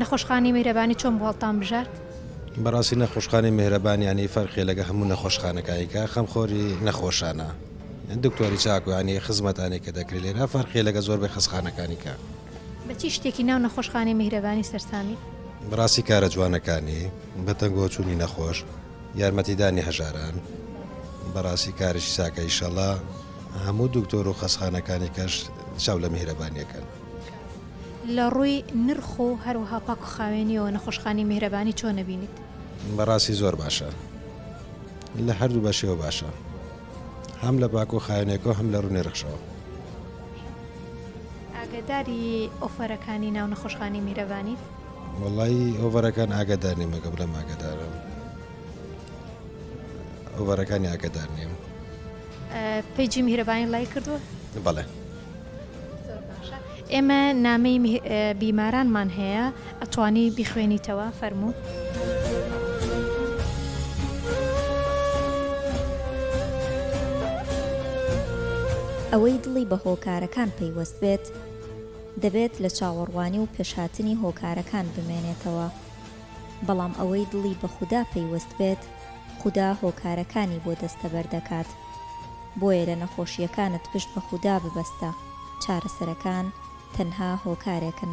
نەخۆشخانەی میهرەبانی چۆن بوو هەڵتان بژارد؟ بەڕاستی نەخۆشخانەی میهرەبانیانی فەرقی لەگە هەموو نەخۆشخانەکانی کە خەمخۆری نەخۆشانە دکتۆری چاکویانی خزمەتانی کە دەکری لێرا فەرقی لەگە زۆر بە خەسخانەکانی کە. بە چی شتێکی ناو نەخۆشخانەی میهرەبانی سەرسامیت؟ بەڕاستی کارە جوانەکانی، بە تەنگۆ چوونی نەخۆش، یارمەتیدانی هەژاران، بەڕاستی کارێکی چاکە ئیشەڵا هەموو دکتۆر و خەسخانەکانی کەش چاو لە میهرەبانی ئەکەن. لە ڕووی نرخ و هەروەها پاک و خاوێنیەوە نەخۆشخانەی میهرەبانی چۆن ئەبینیت؟ بەڕاستی زۆر باشە لە هەردوو بەشیەوە باشە هەم لە پاک و خاوێنێکەوە هەم لە ڕوو نرخشەوە. ئاگەداری ئۆفەرەکانی ناو نەخۆشخانەی میرەبانیت؟ وەڵی ئۆڤەرەکان ئاگەدار نیم ئەگە بڵێم ئاگەدارم ئۆڤەرەکانی ئاگەدار نیم. ئە، پەیجی میهرەبانی ڵایک کردووە؟ بەڵێ. زۆر باشە ئێمە نامەی بیمارانمان هەیە ئەتوانی بیخوێنیتەوە فەرموو. ئەوەی دڵی بە هۆکارەکان پەیوەست بێت دەبێت لە چاوەڕوانی و پێشهاتنی هۆکارەکان بمێنێتەوە بەڵام ئەوەی دڵی بە خودا پەیوەست بێت خودا هۆکارەکانی بۆ دەستەبەر دەکات. بۆیە لە نەخۆشییەکانت پشت بە خودا ببەستە، چارەسەرەکان تەنها هۆکارێکن.